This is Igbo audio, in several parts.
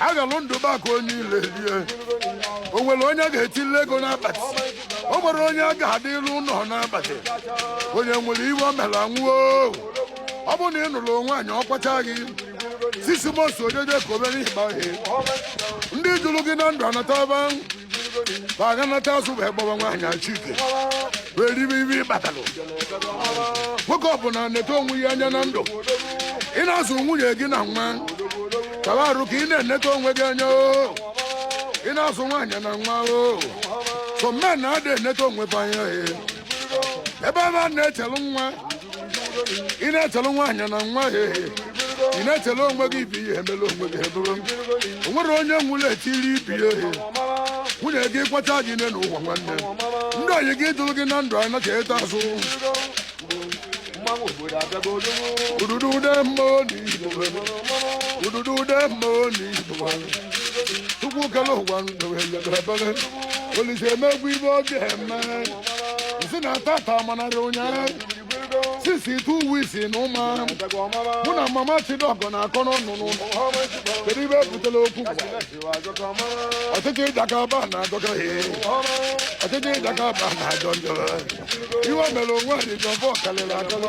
aghalụ ndụ maka onye ile rie o nwere onye ga-etili ego n'akpati o nwere onye a ga-adịlu ụlọ n'akpati onye nwere ife o mere anwụo ọ bụrụ na ị nụrụ nwaanyị ọ kwacha gị six months o jekobe n'ịgba ihe ndị jụrụ gị na ndụ anataba fa ga-anata azụ wee gbawa nwaanyị achike wee ribe ife ị kpatalụ nwoke ọbụla neta onwe ya anya na ndụ ị na-azụ nwunye gị na nwa kaba arụ ka ị na-eneta onwe gị anya o ị na-azụ nwaanyị na nwa o some men ada eneta onwe fa anya ebe fa na-echelu nwa ị na-echelu nwaanyị na nwa ya ehe ị na-echelu onwe gị ibi ihe emela onwe gị ebere o nwere onye nwụrụ etiri ife ya ehe nwunye gị kwacha gị nne na ụwa nwanne ndị oyi gị jụrụ gị na ndụ anya ka ịta azụ ududu ude mmụọ na igbo ududu ude mmụọ na igbo chukwu kele ụwa ndụ ebere Olise emebe ife ọ ga-eme si na tata manarị ụnyaahụ sisi tu wisi na ụma mụ na mama chidọgọ na-akọ n'ọnụ n'ụlọ kedu ife butelu okwu ọchịchị Jagaban ajọka ọchịchị Jagaban ajọ njọ ife mere onwe adịjọ bọ karịrị akọrọ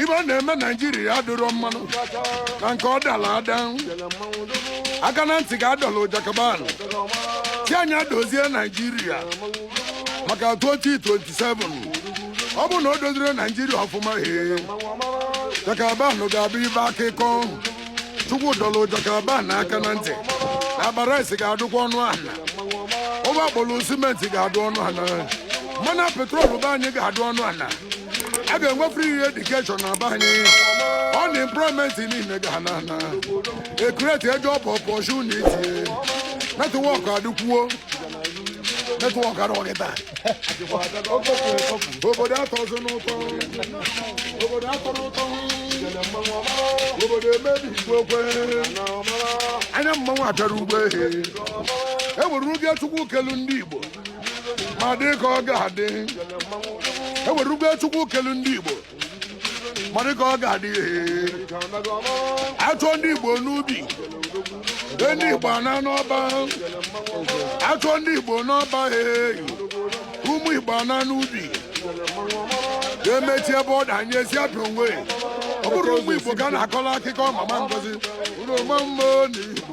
ife ọ na-eme naijiria adịrọ mmanụ na nke ọ dara ada aka na ntị ka a dọlụ Jagaban si ya dozie naijiria maka 2027 ọ bụ na o dozirọ naijiria ọfụma he Jagaban ga-abụ ife akụkọ chukwu dọrọ Jagaban aka na ntị na akpa rice ga-adụkwa ọnụ ala ụgbọ agbolu cement ga-adụ ọnụ ala mmanụ petrol be anyị ga-adụ ọnụ ala a ga-enwe free education na be anyị unemployment niile ga-ana na e create job opportunity network adịkwuo Metụ ọkara ọkịta. Obodo atọzi n'ụtọ. Obodo atọ n'ụtọ. Obodo emebi igwe okwe. Anya mmanwụ achara ugbo ehe. E nwere ugo Chukwu kelu ndị Igbo. Ma dị ka ọ ga-adị. E nwere ugo Chukwu kelu ndị Igbo. ma dị ka ọ ga-adị achọ ndị igbo n'ubi ndị igbo ana n'ọba achọ ndị igbo n'ọba eyi ụmụ igbo ana n'ubi emechi ebe ọ danye ezi abịa onwe ọ bụrụ ụmụ igbo ka na-akọla akụkọ mama ngozi ụlọ mama na igbo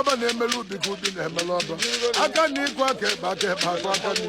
ọba na-emelu ubi ka ubi na-emelu ọba aka nni kwọọ aka ekpe aka ekpe akwọọ aka nni